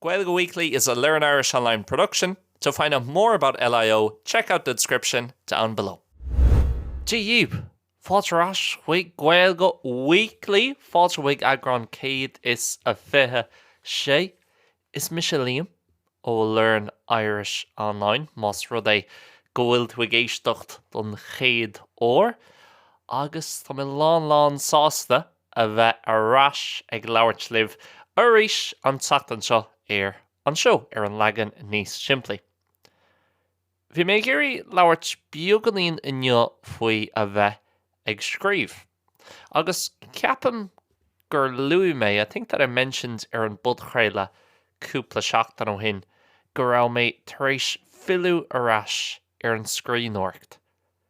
Gaeilge Weekly is a learn Irish online production. To find out more about LIO, check out the description down below. Daoibh! Fáilte ar ais chuig Gaeilge Weekly! Fáilte chuig eagrán 126. Is mise Liam ó Learn Irish Online, más rud é go bhfuil tú ag éisteacht don chéad uair, agus tá mé lán lán sásta a bheith ar ais ag labhairt libh arís an tseachtain seo ar an seó ar an leagan níos simplí. Bhí mé ag iarraidh labhairt beagáinín inniu faoi a bheith ag scríobh. Agus ceapaim gur luaigh mé, I think that I mentioned ar an bpodchraoladh cúpla seachtain ó shin go raibh mé tar éis filleadh ar ais ar an scríbhneoireacht.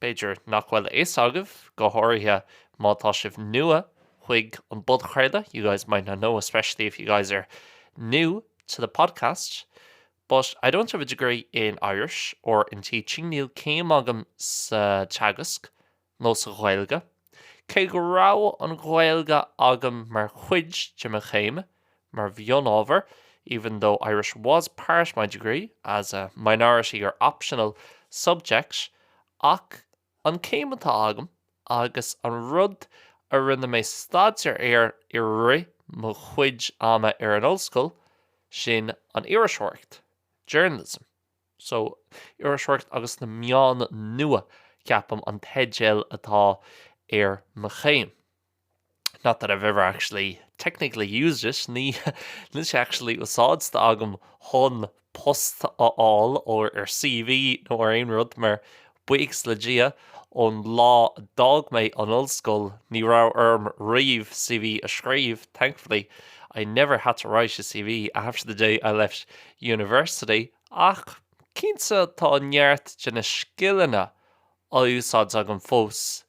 B'fhéidir nach bhfuil a fhios agaibh, go háirithe má tá sibh nua chuig an bpodchraoladh, you guys might not know, especially if you guys are new to the podcast, but I don't have a degree in Irish or in teaching, níl céim agam sa teagasc nó sa Ghaeilge. Cé go raibh an Ghaeilge agam mar chuid de mo chéim mar mhionábhar, even though Irish was part my degree as a minority or optional subject, ach an céim atá agam agus an rud a rinne mé staidéar air i rith mo chuid ama ar an ollscoil, sin an iriseoireacht, journalism. so, Iriseoireacht agus na Meáin Nua, ceapaim, an teideal atá ar mo chéim. Not that I've ever actually technically used it, ní, níl sé actually úsáidte agam chun post a fháil or ar CV nó ar aon rud mar Buíochas le Dia, ón lá a d'fhág mé an ollscoil ní raibh orm riamh CV a scríobh, thankfully, I never had to write a CV after the day I left university, ach cinnte tá neart de na scileanna á úsáid agam fós i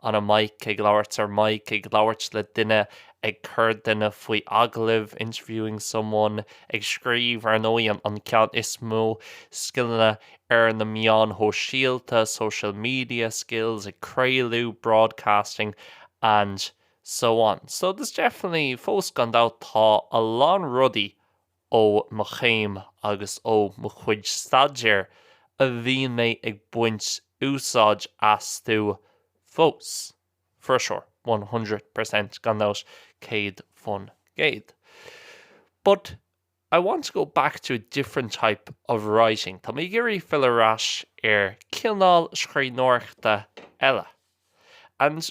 On a mic ag labhairt ar mic ag labhairt le duine ag cur duine faoi agallamh interviewing someone ag scríobh ar ndóigh an an ceann is mó scileanna ar na meáin shóisialta social media skills ag craolú broadcasting and so on so there's definitely fós gan dabht tá a lán rudaí Ó mo chéim agus ó mo chuid staidéir a mbíonn mé ag baint úsáid astu fós, for sure, one hundred per cent, gan dabht, céad fán gcéad. But I want to go back to a different type of writing. Tá mé ag iarraidh fill ar ais ar cineál scríbhneoireachta eile. And.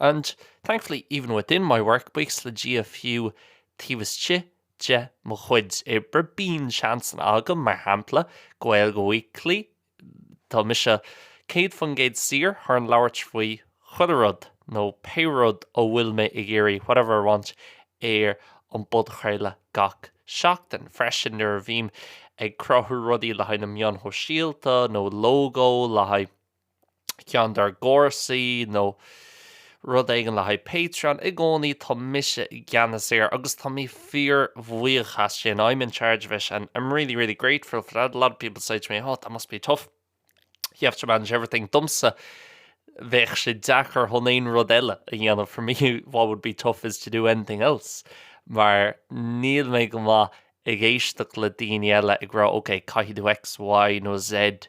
And, thankfully, even within my work, buíochas le Dia fiú taobh istigh de mo chuid oibre, bíonn seans agam, mar shampla, Gaeilge Weekly, tá mise céad faoin gcéad saor chun labhairt faoi chuile rud nó pé rud a bhfuil mé ag iarraidh, whatever I want, ar an bpodchraoladh gach seachtain. Freisin, nuair a bhím ag cruthú rudaí le haghaidh na meáin shóisialta nó lógó le haghaidh. ceann dár gcúrsaí nó rud éigin le haghaidh Patreon i gcónaí, tá mise i gceannas air agus tá mé fíorbhuíoch as sin, I'm in charge of it and I'm really, really grateful for that. A lot of people say to me, oh, that must be tough, you have to manage everything. Domsa, bheadh sé deacair chun aon rud eile a dhéanamh, for me what would be tough is to do anything else, mar níl mé go maith ag éisteacht le daoine eile ag rá, ok, caithfidh tú X, Y nó Z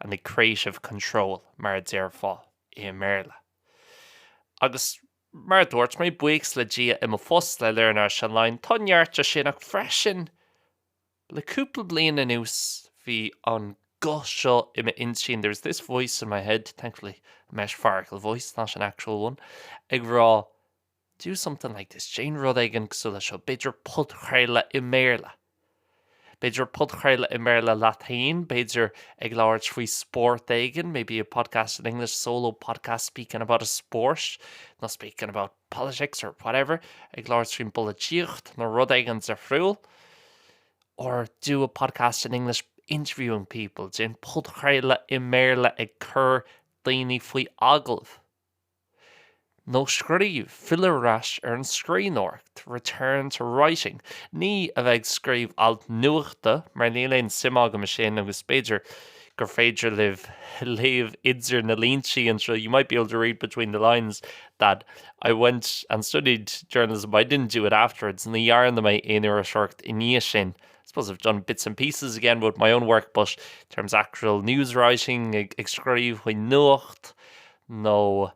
and the creative control mar a déarfá i mBéarla. Agus mar a dúirt mé, buíochas le Dia i mo phost le Learn Irish Online, tá neart de sin ach freisin le cúpla bliain anuas bhí an guth seo i m'intinn, there was this voice in my head, thankfully a metaphorical voice, not an actual one, ag rá Do something like this, déan rud éigin cosúil leis seo, b'fhéidir podchraoladh i mBéarla. B'fhéidir podchraoladh i mBéarla leat féin, b'fhéidir ag labhairt faoi spórt éigin, maybe a podcast in English, solo podcast speaking about a sport nó speaking about politics or whatever, ag labhairt faoin bpolaitíocht nó rud éigin difriúil. Or do a podcast in English interviewing people, déan podchraoladh i mBéarla ag cur daoine faoi agallamh. nó scríobh, fill ar ais ar an scríbhneoireacht, return to writing. Ní a bheith ag scríobh alt nuachta, mar níl aon suim agam ansin agus b'fhéidir gur féidir libh léamh idir na líntí anseo, you might be able to read between the lines that I went and studied journalism but I didn't do it afterwards, ní dhearna mé aon iriseoireacht i ndiaidh sin, I suppose I've done bits and pieces again with my own work but in terms of actual news writing, ag scríobh faoin nuacht, nó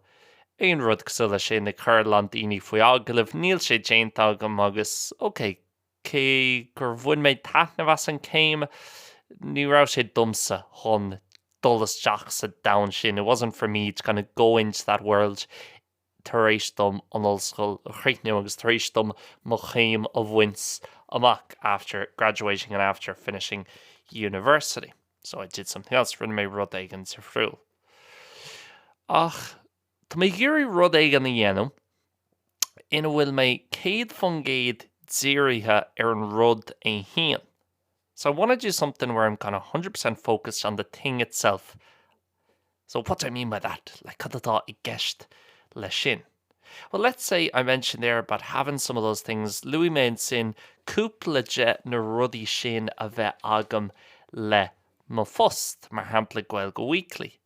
aon rud cosúil leis sin, nó ag cur a lán daoine faoi agallamh. Níl sé déanta agam agus, ok, cé gur bhain mé taitneamh as an céim, ní raibh sé domsa chun dul isteach sa domhan sin, it wasn't for me to kind of go into that world tar éis dom an ollscoil a chríochnú agus tar éis dom mo chéim a bhaint amach, after graduating and after finishing university. So I did something else, rinne mé rud éigin difriúil. Ach tá mé ag iarraidh rud éigin a dhéanamh ina bhfuil mé céad faoin gcéad dírithe ar an rud é féin. So I want to do something where I'm kind of 100% focused on the thing itself So what do I mean by that? Like, cad atá i gceist le sin? Well, let's say I mentioned there about having some of those things, luaigh mé ansin cúpla de na rudaí sin a bheith agam le mo phost, mar shampla Gaeilge Weekly.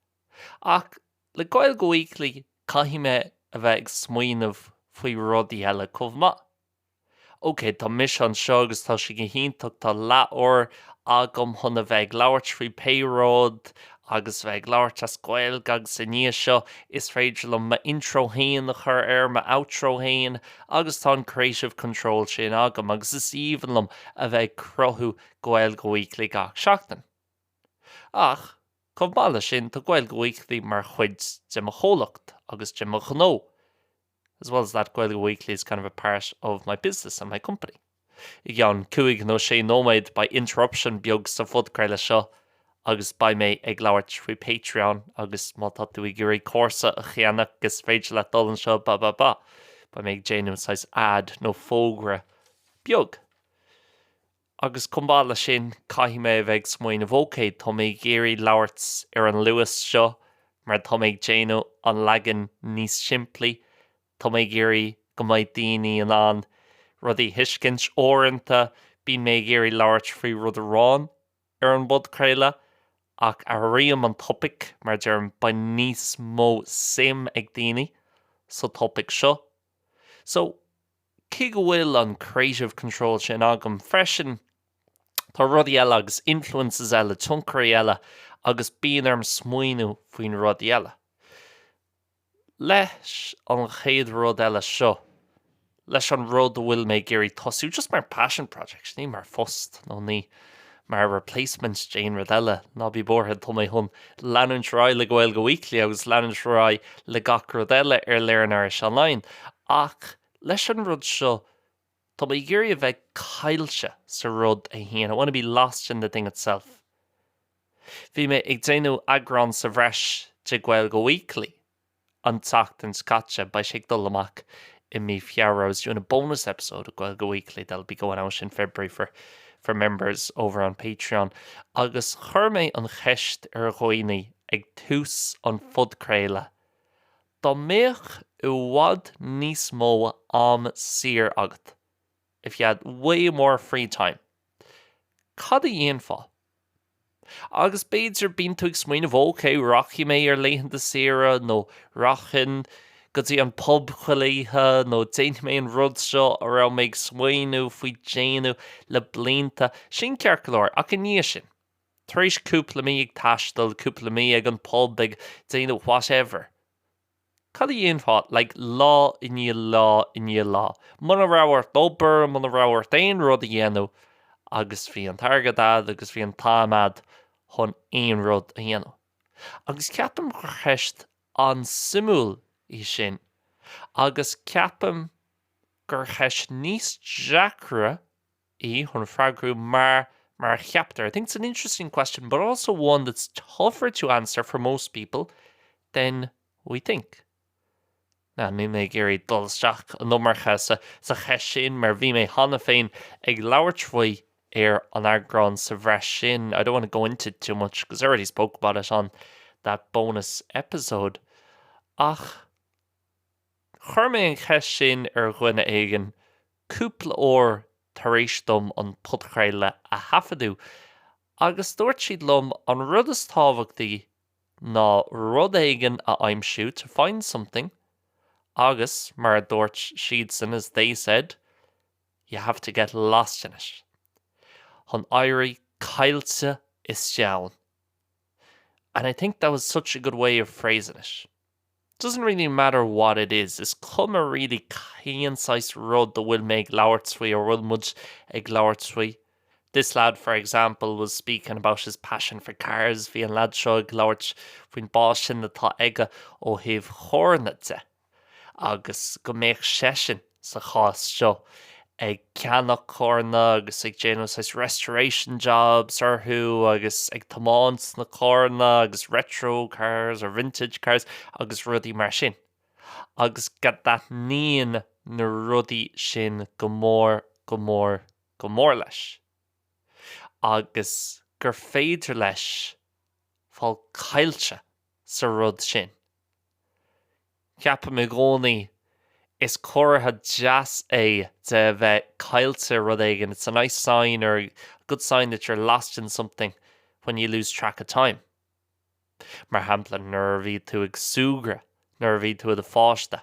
Ach le Gaeilge Weekly, caithfidh mé a bheith ag smaoineamh faoi rudaí eile chomh maith. OK, tá mise anseo agus tá sé go hiontach, tá leathuair agam chun a bheith ag labhairt faoi pé rud agus bheith ag labhairt as Gaeilge agus i ndiaidh seo is féidir liom m'intro fhéin a chur air, m'outro fhéin agus tá an creative control sin agam agus is aoibhinn liom a bheith ag cruthú Gaeilge Weekly gach seachtain. Ach, chomh maith le sin, tá Gaeilge Weekly mar chuid de mo chomhlacht agus de mo ghnó. as well as that Gaeilge Weekly is kind of a part of my business and my company I gceann cúig nó sé nóiméad beidh interruption beag sa phodchraoladh seo agus beidh mé ag labhairt faoi Patreon agus má tá tú ag iarraidh cúrsa a cheannach is féidir leat dul anseo ba ba ba beidh mé ag déanamh saghas ad nó fógra beag Agus chomh maith le sin, caithfidh mé a bheith ag smaoineamh, OK, tá mé ag iarraidh labhairt ar an luas seo mar tá mé ag déanamh an leagan níos simplí, tá mé ag iarraidh go mbeidh daoine in ann rudaí a thuiscint. Uaireanta, bíonn mé ag iarraidh labhairt faoi rud amháin ar an bpodchraoladh ach athraím an topaic mar deirim, beidh níos mó suim ag daoine sa topaic seo. So. cé go bhfuil an creative control sin agam freisin, tá rudaí eile agus influences eile, tionchairí eile agus bíonn orm smaoineamh faoi na rudaí eile. Leis an chéad rud eile seo, leis an rud a bhfuil mé ag iarraidh tosú, just mar passion project, ní mar phost nó ní mar replacement d'aon rud eile, ná bí buartha, tá mé chun leanúint ar aghaidh le Gaeilge Weekly agus leanúint ar aghaidh le gach rud eile ar Learn Irish Online ach leis an rud seo tá mé ag iarraidh a bheith caillte sa rud é fhéin, I wanna be lost in the thing itself. Bhí mé ag déanamh eagrán sa bhreis de Gaeilge Weekly. an tseachtain seo caite. Beidh sé ag dul amach i mí Feabhra. I was doing a bonus episode of Gaeilge Weekly that'll be going out in February for for members over on Patreon agus chuir mé an cheist ar dhaoine ag tús an phodchraoladh dá mbeadh i bhfad níos mó am saor agat, if you had way more free time, cad a dhéanfá? Agus b'fhéidir, bíonn tú ag smaoineamh, OK, rachaidh mé ar laethanta saoire, nó rachainn go dtí an pub chuile oíche, nó déanfaidh mé an rud seo a raibh mé ag smaoineamh faoi dhéanamh le blianta. Sin ceart go leor, ach i ndiaidh sin, tar éis cúpla mí ag taisteal, cúpla mí ag an pub, ag déanamh whatever, Cad a dhéanfá, like, lá i ndiaidh lá i ndiaidh lá, muna raibh ort obair, muna raibh ort aon rud a dhéanamh agus bhí an t-airgead a'd agus bhí an t-am a'd chun aon rud a dhéanamh. Agus ceapaim gur ceist an-suimiúil í sin agus ceapaim gur ceist níos deacra, í chun freagrú mar a cheaptar I think it's an interesting question but also one that's tougher to answer for most people than we think. Now, níl mé ag iarraidh dul isteach an iomarca sa, sa cheist sin mar bhí mé cheana féin ag labhairt faoi ar an eagrán sa bhreis sin I don't want to go into it too much because I already spoke about it on that bonus episode ach Chuir mé an cheist sin ar dhuine éigin cúpla uair tar éis dom an podchraoladh a thaifeadadh agus dúirt siad liom an rud is tábhachtaí ná rud éigin a aimsiú, to find something, agus, mar a dúirt siadsan, as they said, you have to get lost in it, chun éirí caillte isteach ann. And I think that was such a good way of phrasing it. Doesn't really matter what it is, is cuma really cén saghas rud a bhfuil mé ag labhairt faoi, nó a bhfuil muid ag labhairt faoi. This lad, for example, was speaking about his passion for cars, bhí an lad seo ag labhairt faoin bpaisean atá aige ó thaobh charranna de agus go mbeadh seisean, sa chás seo, ag ceannach carranna agus ag déanamh saghas restoration jobs orthu agus ag tiomáint na carranna agus retro cars or vintage cars agus rudaí mar sin agus go dtaitníonn na rudaí sin go mór, go mór, go mór leis agus gur féidir leis fáil caillte sa rud sin. Ceapaim i gcónaí, is comhartha deas é de bheith caillte rud éigin, it's a nice sign or a good sign that you're lost in something when you lose track of time. Mar shampla, nuair a bhí tú ag súgradh nuair a bhí tú i do pháiste.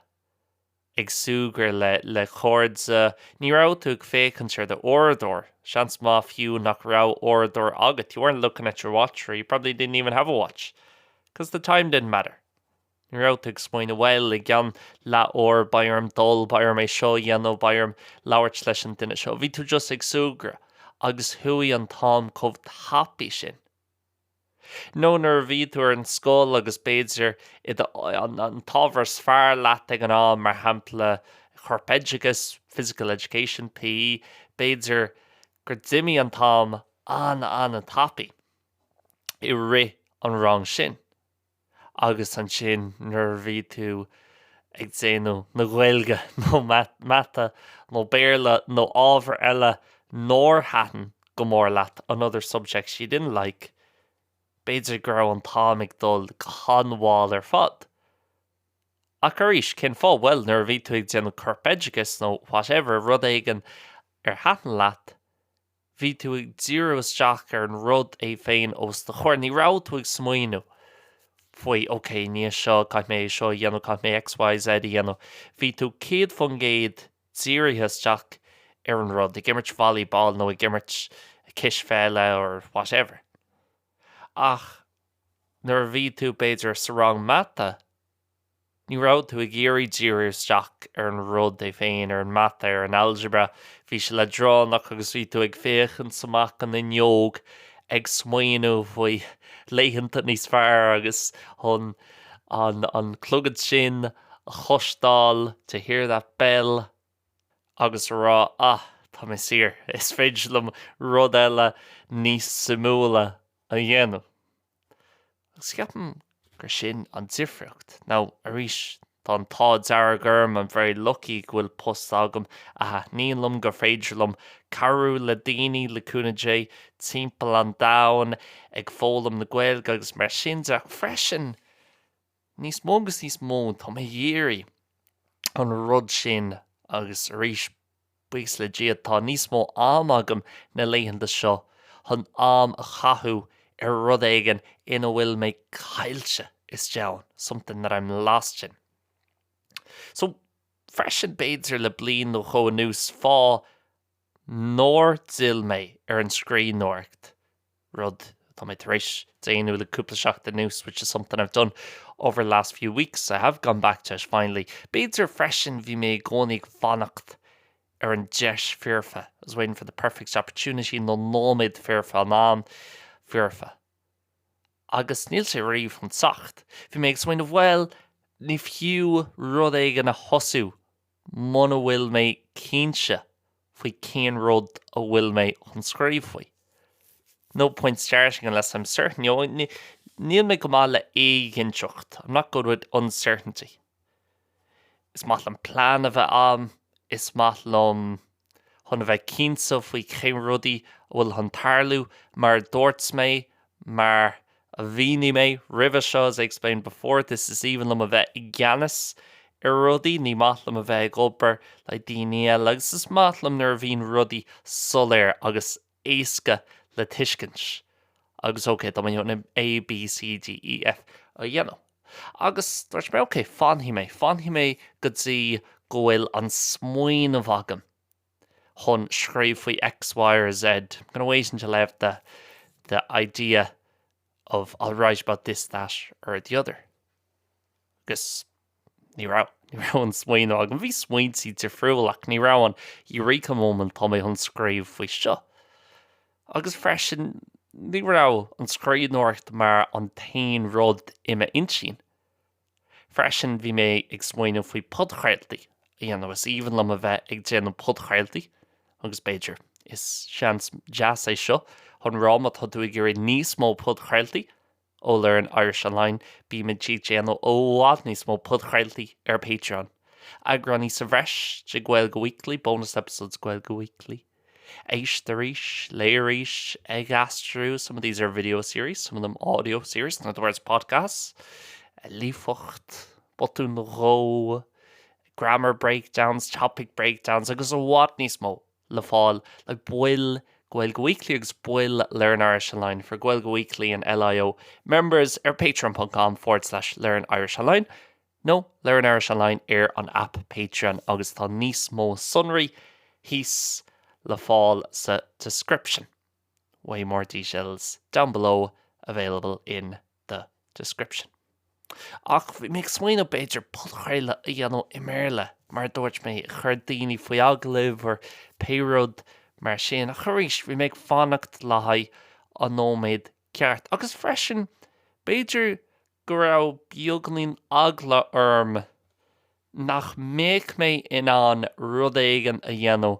ag súgradh le le cairde, ní raibh tú ag féachaint ar do uaireadóir, seans maith fiú nach raibh uaireadóir agat you weren't looking at your watch or you probably didn't even have a watch cause the time didn't matter ní raibh tú ag smaoineamh bhuel i gceann leath uair beidh orm dul, beidh orm é seo a dhéanamh, beidh orm labhairt leis an duine seo bhí tú just ag súgradh agus chuaigh an t-am chomh tapaidh sin. nó nuair a bhí tú ar an scoil agus b'fhéidir i do an t-ábhar is fearr leat ag an am, mar shampla corpoideachas, physical education, PE, b'fhéidir gur d'imigh an t-am an-an-tapaidh i rith an rang sin. agus ansin nuair a bhí tú ag déanamh na Gaeilge nó Mata nó Béarla nó ábhar eile nár thaitin go mór leat, another subject you didn't like, b'fhéidir go raibh an t-am ag dul go han-mhall ar fad. Ach arís, cén fáth? Bhuel, nuair a bhí tú ag déanamh corpoideachas nó whatever, rud éigin ar thaitin leat, bhí tú ag díriú isteach ar an rud é féin os do chomhair, ní raibh tú ag smaoineamh faoi OK, níos seo, caithfidh mé é seo a dhéanamh, caithfidh mé X, Y, Z a dhéanamh. Bhí tú 100% dírithe isteach ar an rud, ag imirt volleyball nó ag imirt cispheile or whatever. Ach nuair a bhí tú, b'fhéidir, sa rang mata, Ní raibh tú ag iarraidh díriú isteach ar an rud é féin, ar an mata, ar an algebra, bhí sé leadránach agus bhí tú ag féachaint amach an fhuinneog ag smaoineamh faoi laethanta níos fearr agus chun an clog sin a chloisteáil, to hear that bell, agus a rá ah, tá mé saor, is féidir liom rud eile níos suimiúla a dhéanamh. agus ceapaim gur sin an difríocht now arís tá an t-ádh dearg orm, I'm very lucky, go bhfuil post agam a thaitníonn liom, gur féidir liom cabhrú le daoine, le cúnamh Dé, timpeall an domhain ag foghlaim na Gaeilge agus mar sin de, ach freisin, Níos mó agus níos mó, tá mé ag iarraidh an rud sin agus arís, buíochas le Dia, tá níos mó ama agam na laethanta seo chun am a chaitheamh ar rud éigin ina bhfuil mé caillte istigh ann, something that I'm lost in. So, freisin, b'fhéidir le bliain nó dhó anuas, fá. nár d'fhill mé ar an scríbhneoireacht, rud atá mé tar éis déanamh le cúpla seachtain anuas which is something I've done over the last few weeks, I have gone back to it finally. B'fhéidir freisin bhí mé i gcónaí ag fanacht ar an deis foirfe, I was waiting for the perfect opportunity nó nóiméad foirfe nó an am foirfe. Agus níl sé riamh chun teacht. Bhí mé ag smaoineamh bhuel, ní fiú rud éigin a thosú muna bhfuil mé cinnte faoi cén rud a bhfuil mé chun scríobh faoi. No point starting unless I'm certain, you know, níl mé go maith le éiginnteacht, I'm not good with uncertainty. Is maith liom plean a bheith agam, is maith liom. chun a bheith cinnte faoi cén rudaí a bhfuil chun tarlú, mar a dúirt mé, mar a mhínigh mé roimhe seo, as I explained before, is aoibhinn liom a bheith i gceannas ar rudaí, ní maith liom a bheith ag obair le daoine eile agus is maith liom nuair a bhíonn rudaí soiléir agus éasca le tuiscint agus OK tá mé chun A, B, C, D, E, F a dhéanamh. Agus dúirt mé OK, fanfaidh mé, fanfaidh mé go dtí go bhfuil an smaoineamh agam chun scríobh faoi X, Y or Z, I'm going to wait until I have the the idea of, I'll write about this, that or the other. Agus ní raibh, ní raibh an smaoineamh agam, bhí smaointí difriúla ach ní raibh an eureka moment tá mé chun scríobh faoi seo. Agus freisin ní raibh an scríbhneoireacht mar an t-aon rud i m'intinn. Freisin bhí mé ag smaoineamh faoi podchraoltaí a dhéanamh, is aoibhinn liom a bheith ag déanamh podchraoltaí agus b'fhéidir, is seans deas é seo chun rá má tá tú ag iarraidh níos mó podchraoltaí ó Learn Irish Online, Bímid ag déanamh i bhfad níos mó podchraoltaí ar Patreon! Eagráin sa bhreis de Gaeilge Weekly, bonus episodes Gaeilge Weekly. Éist arís, léigh arís, ag aistriú some of these are video series, some of them audio series, in other words podcasts. líofacht, botún nó dhó, grammar breakdowns, topic breakdowns agus i bhfad níos mó! le fáil le baill Gaeilge Weekly agus baill Learn Irish Online for Gaeilge Weekly and LIO members ar patreon.com forward slash learn Irish Online nó Learn Irish Online ar an app Patreon agus tá níos mó sonraí thíos le fáil sa description. way more details down below available in the description Ach bhí mé ag smaoineamh b'fhéidir podchraoladh a dhéanamh i mBéarla mar a dúirt mé a chur daoine faoi agallamh nó pé rud mar sin ach arís bhí mé ag fanacht le haghaidh an nóiméad ceart agus freisin b'fhéidir go raibh beagainín eagla orm nach mbeadh mé in ann rud éigin a dhéanamh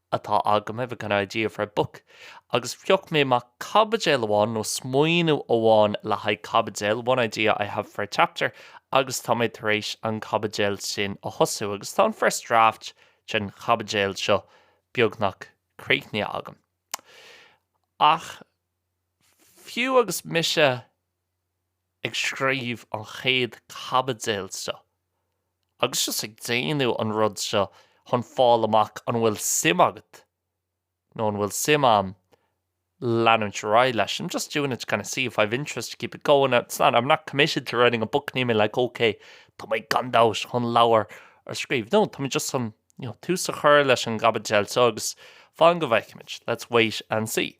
atá agam, I have a kind of idea for a book, agus phioc mé amach caibidil amháin nó smaoineamh amháin le haghaidh caibidil, one idea I have for a chapter, agus tá mé tar éis an chaibidil sin a thosú agus tá an first draft den chaibidil seo beagnach críochnaithe agam. Ach fiú agus mise. ag scríobh an chéad chaibidil seo agus just ag déanamh an rud seo chun fáil amach an bhfuil suim agat nó an bhfuil suim a'm leanúint ar aghaidh leis, I'm just doing it to kind of see if I've interest to keep it going, it's not, I'm not committed to writing a book, níl mé like ok tá mé gan dabht chun leabhar a scríobh, no, tá mé just chun, you know, tús a chur leis an gcaibidil seo agus fan go bhfeicfimid, let's wait and see.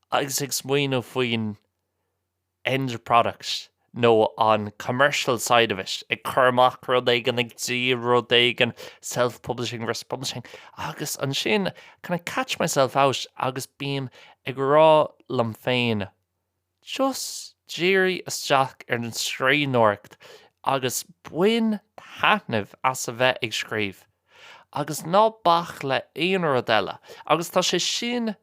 agus ag smaoineamh faoin end product nó an commercial side of it, ag cur amach rud éigin, ag díol rud éigin, self-publishing versus publishing, agus ansin kinda catch myself out agus bím ag rá liom féin just dírigh isteach ar an scríbhneoireacht agus bain taitneamh as a bheith ag scríobh agus ná bac le aon rud eile agus tá sé sin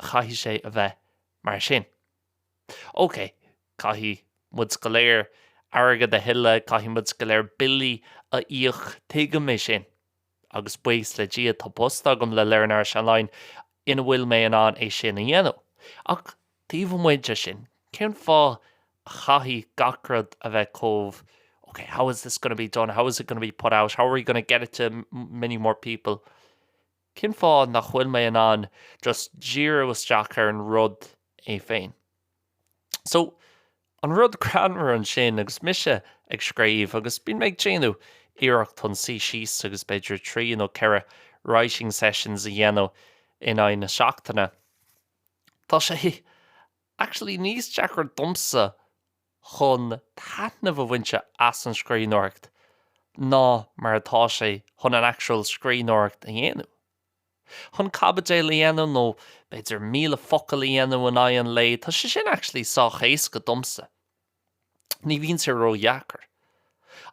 Chaithfeadh sé a bheith mar sin. Ócé, caithfidh muid go léir airgead a thuilleadh, caithfidh muid go léir billí a íoc, tuigim é sin. Agus buíochas le Dia, tá post agam le Learn Irish Online ina bhfuil mé in ann é sin a dhéanamh. Ach taobh amuigh de sin, cén fáth a chaithfidh gach rud a bheith chomh, okay, how is this going to be done, how is it going to be put out, how are you going to get it to many more people? Cén fáth nach bhfuil mé in ann just díriú isteach ar an rud é féin? So, an rud greannmhar ansin, agus mise ag scríobh, agus bíonn mé ag déanamh iarracht chun suí síos agus b'fhéidir trí nó ceithre writing sessions a dhéanamh in aghaidh na seachtaine, tá sé actually níos deacra domsa chun taitneamh a bhaint as an scríbhneoireacht ná mar atá sé chun an actual scríbhneoireacht a dhéanamh. Chun caibidil a dhéanamh nó b'fhéidir míle focal a dhéanamh in aghaidh an lae, tá sé sin actually sách éasca domsa. Ní bhíonn sé ró-dheacair.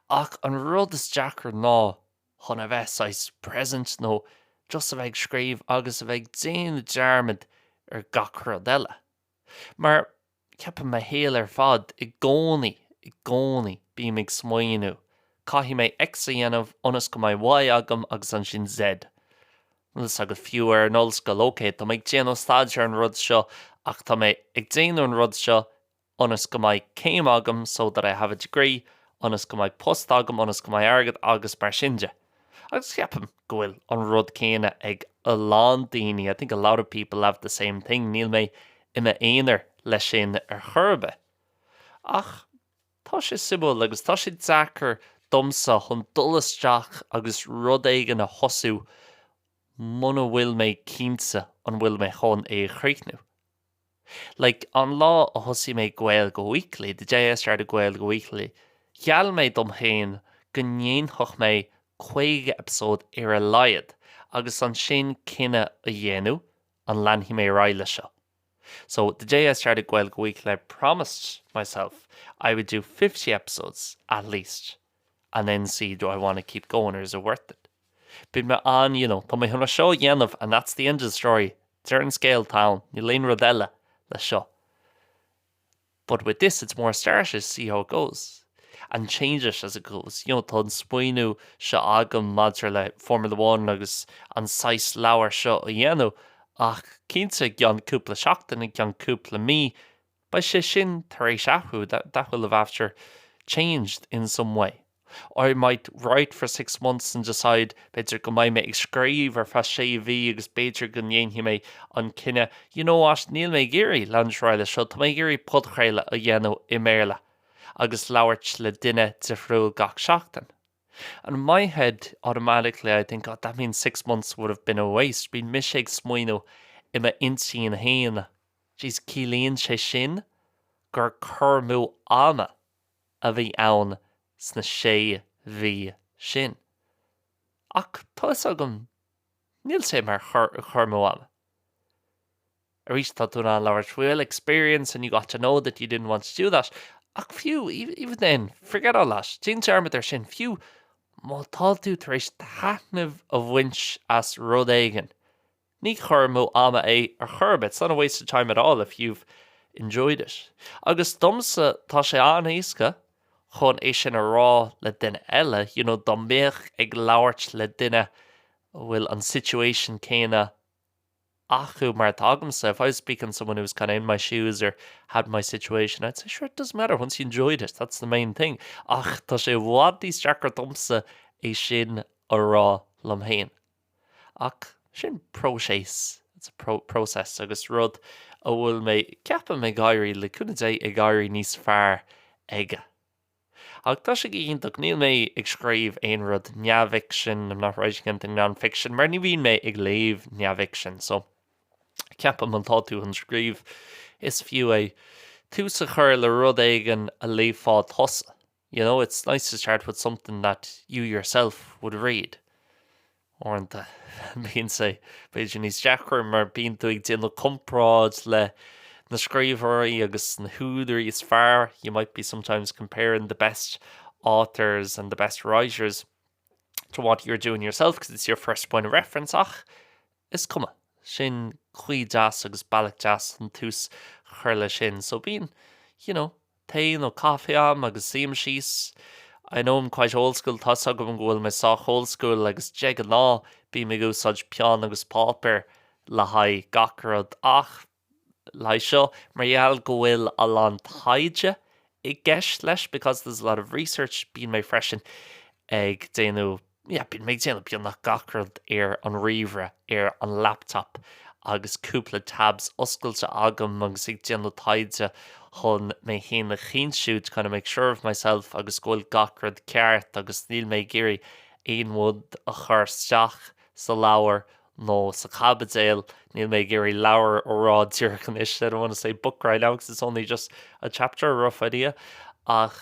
Ach an rud is deacra ná chun a bheith saghas present nó just a bheith ag scríobh agus a bheith ag déanamh dearmad ar gach rud eile. Mar. Ceapaim mo shaol ar fad, i gcónaí, i gcónaí, bím ag smaoineamh, caithfidh mé X a dhéanamh ionas go mbeidh Y agam agus ansin Z. Tá fhios agat fiú ar an ollscoil, ok, tá mé ag déanamh staidéir ar an rud seo ach tá mé ag déanamh an rud seo ionas go mbeidh céim agam so that I have a degree ionas go mbeidh post agam ionas go mbeidh airgead agus mar sin de. Agus ceapaim go bhfuil an rud céanna ag a lán daoine, I think a lot of people have the same thing, níl mé i m'aonar leis sin ar chor ar bith. Ach tá sé suimiúil agus tá sé deacair domsa chun dul isteach agus rud éigin a thosú muna bhfuil mé cinnte an bhfuil mé chun é a chríochnú. Like, an lá a thosaigh mé Gaeilge Weekly, the day I started Gaeilge Weekly, gheall mé dom féin go ndéanfadh mé 50 episode ar a laghad agus ansin cinneadh a dhéanamh an leanfaidh mé ar aghaidh leis seo. So, the day I started Gaeilge Weekly, I promised myself I would do fifty episodes at least. and then see do I want to keep going or is it worth it? Bíonn mé an, you know, tá mé chun é seo a dhéanamh and that's the end of the story, deireadh an scéil, tá ann, níl aon rud eile leis seo. But with this it's more start it, see how it goes and change it as it goes. You know, tá an smaoineamh seo agam maidir le Formula One agus an saghas leabhar seo a dhéanamh ach cinnte i gceann cúpla seachtain, i gceann cúpla mí, Beidh sé sin tar éis athrú, that will have, after, changed in some way. Or I might write for six months and decide, b'fhéidir go mbeidh mé ag scríobh ar feadh sé mhí agus b'fhéidir go ndéanfaidh mé an cinneadh, you know what, níl mé ag iarraidh leanúint ar aghaidh leis seo, tá mé ag iarraidh podchraoladh a dhéanamh i mBéarla agus labhairt le duine difriúil gach seachtain. And in my head, automatically, I think, oh, that means six months would have been a waste. Bíonn mise ag smaoineamh i m'intinn fhéin, Jeez, ciallaíonn sé sin gur cur amú ama a bhí ann sna sé mhí sin. Ach tá 'fhios agam, níl sé mar chur amú ama. Arís, tá tú in ann labhairt faoi do experience and you got to know that you didn't want to do that ach fiú even then, forget all that, déan dearmad ar sin, fiú má tá tú tar éis taitneamh a bhaint as rud éigin, ní cur amú ama é ar chor ar bith, it's not a waste of time at all if you've enjoyed it. Agus domsa, tá sé an-éasca chun é sin a rá le duine eile, you know, dá mbeadh ag labhairt le duine a bhfuil an situation céanna, acu mar atá agamsa, if I was speaking to someone who was kind of in my shoes or had my situation, I'd say sure, it doesn't matter, once you enjoyed it, that's the main thing. Ach tá sé i bhfad níos deacra domsa é sin a rá liom féin. Ach sin próiseas, it's a process, agus rud a bhfuil mé, ceapaim, ag éirí, le cúnamh Dé, ag éirí níos fearr aige. Ach tá sé iontach, níl mé ag scríobh aon rud neamhfhicsin, I'm not writing anything non-fiction, mar ní bhíonn mé ag léamh neamhfhicsin, so ceapaim má tá tú chun scríobh, is fiú é tús a chur le rud éigin a léifeá tusa, you know, it's nice to start with something that you yourself would read. Uaireanta, bíonn sé, b'fhéidir, níos deacra mar bíonn tú ag déanamh comparáid le na scríbhneoirí agus na húdairí is fearr, you might be sometimes comparing the best authors and the best writers to what you're doing yourself because it's your first point of reference ach is cuma, sin caoi deas agus bealach deas chun tús a chur leis sin. So bíonn, you know, tae nó caife a'm agus suím síos I know I'm quite old school tá's agam go bhfuil mé sách old school agus de ghnáth bím ag úsáid peann agus páipéar le haghaidh gach rud ach le haghaidh seo mar gheall go bhfuil a lán taighde i gceist leis because there's a lot of research bíonn mé freisin ag déanamh yeah bíonn mé ag déanamh beagnach gach rud ar an ríomhaire, ar an laptop agus cúpla tabs oscailte agam agus ag déanamh taighde chun mé féin a chinntiú to kind of make sure of myself agus go bhfuil gach rud ceart agus níl mé ag iarraidh aon rud a chur isteach sa leabhar nó sa chaibidil, níl mé ag iarraidh leabhar a rá díreach anois I don't want to say book right now because it's only just a chapter, a rough idea ach.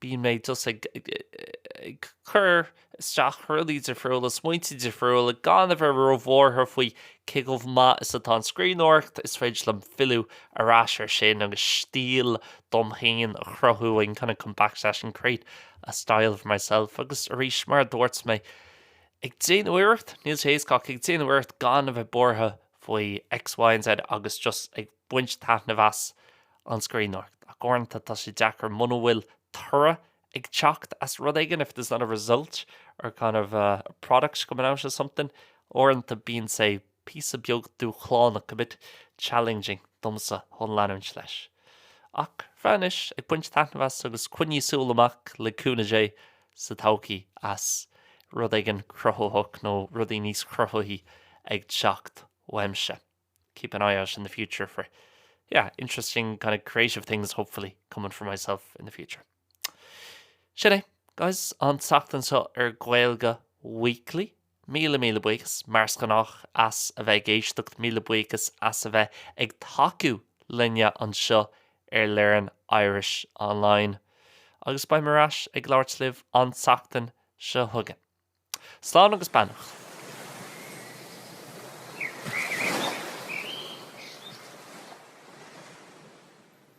Bíonn mé just ag cur isteach rudaí difriúla, smaointe difriúla, gan a bheith róbhuartha faoi cé chomh maith is atá an scríbhneoireacht, is féidir liom filleadh ar ais ar sin agus stíl dom féin a chruthú, I can kind of come back to that and create a style for myself agus arís, mar a dúirt mé, ag déanamh iarracht, níl sé éasca ach ag déanamh iarracht gan a bheith buartha faoi X, Y and Z agus just ag. baint taitneamh as an scríbhneoireacht ach uaireanta tá sé deacair muna bhfuil toradh ag teacht as rud éigin, if there's not a result or kind of a product coming out of something. Uaireanta bíonn sé píosa beag dúshlánach, a bit challenging, domsa chun leanúint leis. Ach faoi anois, ag baint taitneamh as agus coinnígí súil amach, le cúnamh Dé, sa todhchaí as rud éigin cruthaitheach nó rudaí níos cruthaithí ag teacht uaimse. keep an eye out in the future for yeah, interesting kind of creative things hopefully coming for myself in the future. Sin é, guys, an tseachtain seo ar Gaeilge Weekly. Míle míle buíochas, mar is gnách, as a bheith ag éisteacht, míle buíochas as a bheith ag tacú linne anseo ar Learn Irish Online. Agus beidh mé ar ais ag labhairt libh an tseachtain seo chugainn. Slán agus beannacht.